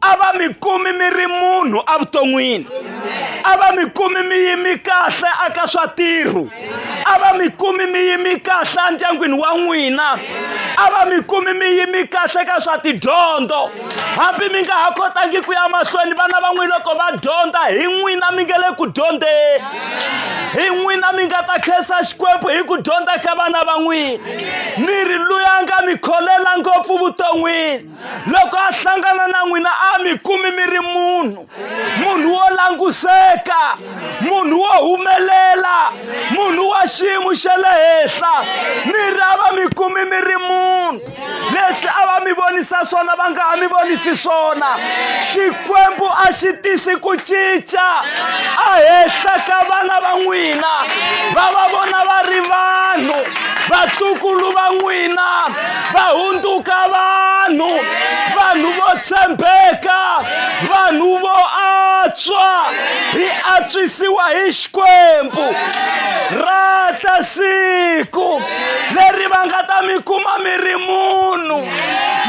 a va mi kumi mi ri munhu evuton'wini a va mi kumi mi yimi kahle aka swa tirhu a va mi kumi mi yimi kahle endyangwini wa n'wina a va mi kumi mi yimi kahle ka swa tidyondzo hambi mi nga ha kotangi ku ya mahlweni vana va n'wina loko va dyondza hi n'wina mi nga le ku dyondzeni hi n'wina mi nga ta khensa xikwembu hi ku dyondza ka vana va n'wina mi ri luya nga mi kholela ngopfu vuton'wini loko a hlangana na n'wina a mi kumi mi ri munhu munhu wo languseka munhu wo humelela munhu wa xiyimo xa le henhla mi ra va mi kumi mi ri munhu leswi a va mi vonisa swona va nga ha mi vonisi swona xikwembu a xi tisi ku cinca a henhla ka vana va n'wina va va vona va ri vanhu vatukulu va n'wina va hundzuka vanhu vanhu vo tshembeka vanhu vo antswa hi antswisiwa hi xikwembu rata siku leri va nga ta mi kuma mi ri munhu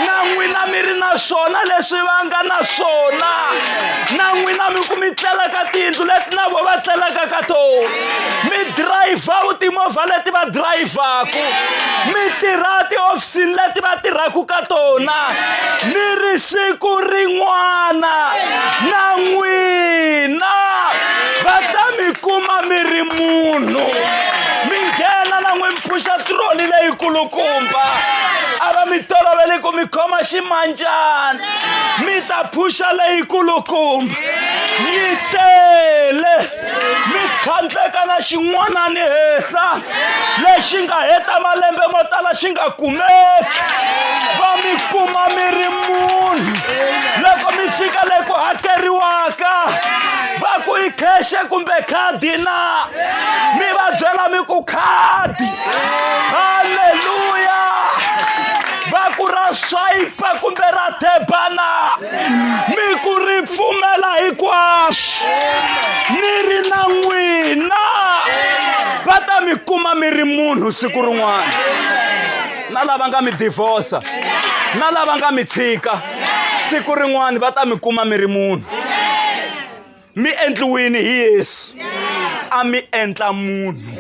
na n'wina mi ri na swona leswi va nga na swona na n'wina mi ku mi tlelaka tiyindlu leti na vo va tlelaka ka tona mi dirayivha u timovha leti va dirayivhaku mi tirha tihofisini leti va tirhaka ka tona ni ri siku rin'wana na n'wina va ta mi kuma mi ri munhu mi nghena na n'wi mi phuxa tiroli leyikulukumba a va mi tolovele ku mi khoma ximanjana mi ta phuxa leyikulukumba yi tele mi tlhandleka na xin'wanani henhla lexi nga heta malembe mo tala xi nga kumeki va mi kuma mi ri munhu loko mi fika le ku hakeriwaka va ku i kheshe kumbe khadi na mi va byela mi ku khadi halleluya va ku ra swayipa kumbe ra thebana mi ku ri pfumela hinkwaswo mi ri na n'wina va ta mi kuma mi ri munhu siku rin'wana na lava nga mi divorsa na lava nga mi tshika siku rin'wana va ta mi kuma mi ri munhu mi endliwini hi yesu a mi endla munhu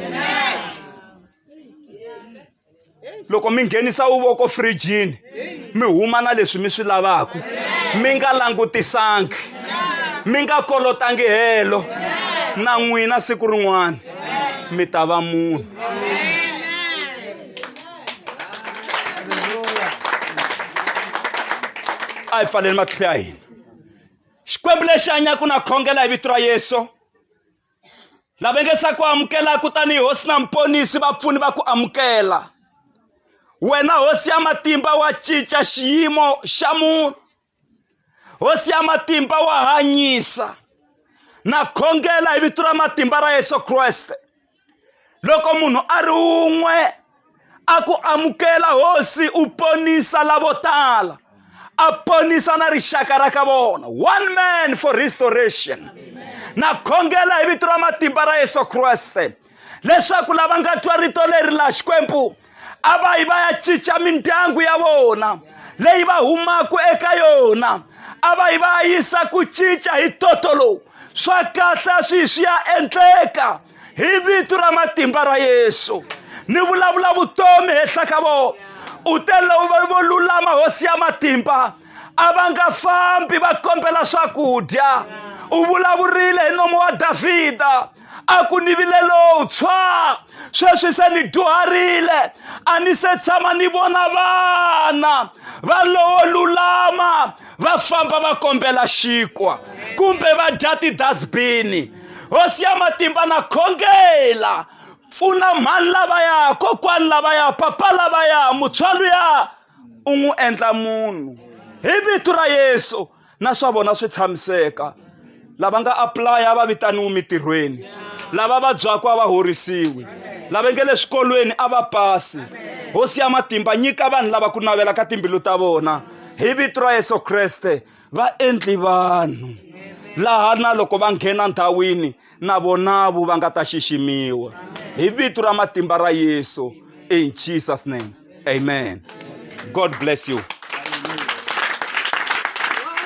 loko mi nghenisa uvoko firijini mi huma na leswi mi swi lavaka mi nga langutisangi mi nga kolotangi helo na n'wina siku rin'wana mi ta va munhu a hi pfaleli matihlo ya hina xikwembu lexi hanyaka na khongela hi vito ra yesu lava nge sa ku amukelaka tanihi hosi na muponisi vapfuni va ku amukela wena hosi ya matimba wa cinca xiyimo xa munhu hosi ya matimba wa hanyisa na khongela hi vito ra matimba ra yesu kreste loko munhu a ri un'we a ku amukela hosi u ponisa lavo tala a ponisa na rixaka ra ka vona one man for restoration na khongela hi vito ra matimba ra yesu kreste leswaku lava nga twa rito leri la xikwembu a va yi va ya cinca mindyangu ya vona leyi va humaka eka yona a va yi va yisa ku cinca hi toto lowu swa kahle swi swi ya endleka hi vito ra matimba ra yesu ni vulavula vutomi henhla ka vona u te lava vo lulama hosi ya matimba a va nga fambi va kombela swakudya u vulavurile hi nomo wa davhida a ku ni vile lowutshwa sweswi se ni dyuharile a ni se tshama ni vona vana va lowo lulama va famba va kombela xinkwa kumbe va dya tidasbini hosi ya matimba na khongela pfuna mhani lavaya kokwani lavaya papa lavaya mutswalo ya u n'wi endla munhu hi vito ra yesu na swa vona swi tshamiseka lava nga apulaya va vitaniwi mitirhweni lava vabyaka a va horisiwi lava nge le swikolweni a va pasi hosi ya matimba nyika vanhu lava ku navela ka timbilu ta vona hi vito ra yesu kreste va endli vanhu laha na loko va nghena ndhawini na vonavu va nga ta xiximiwa hi vito ra matimba ra yesu in jesus name amen god bless you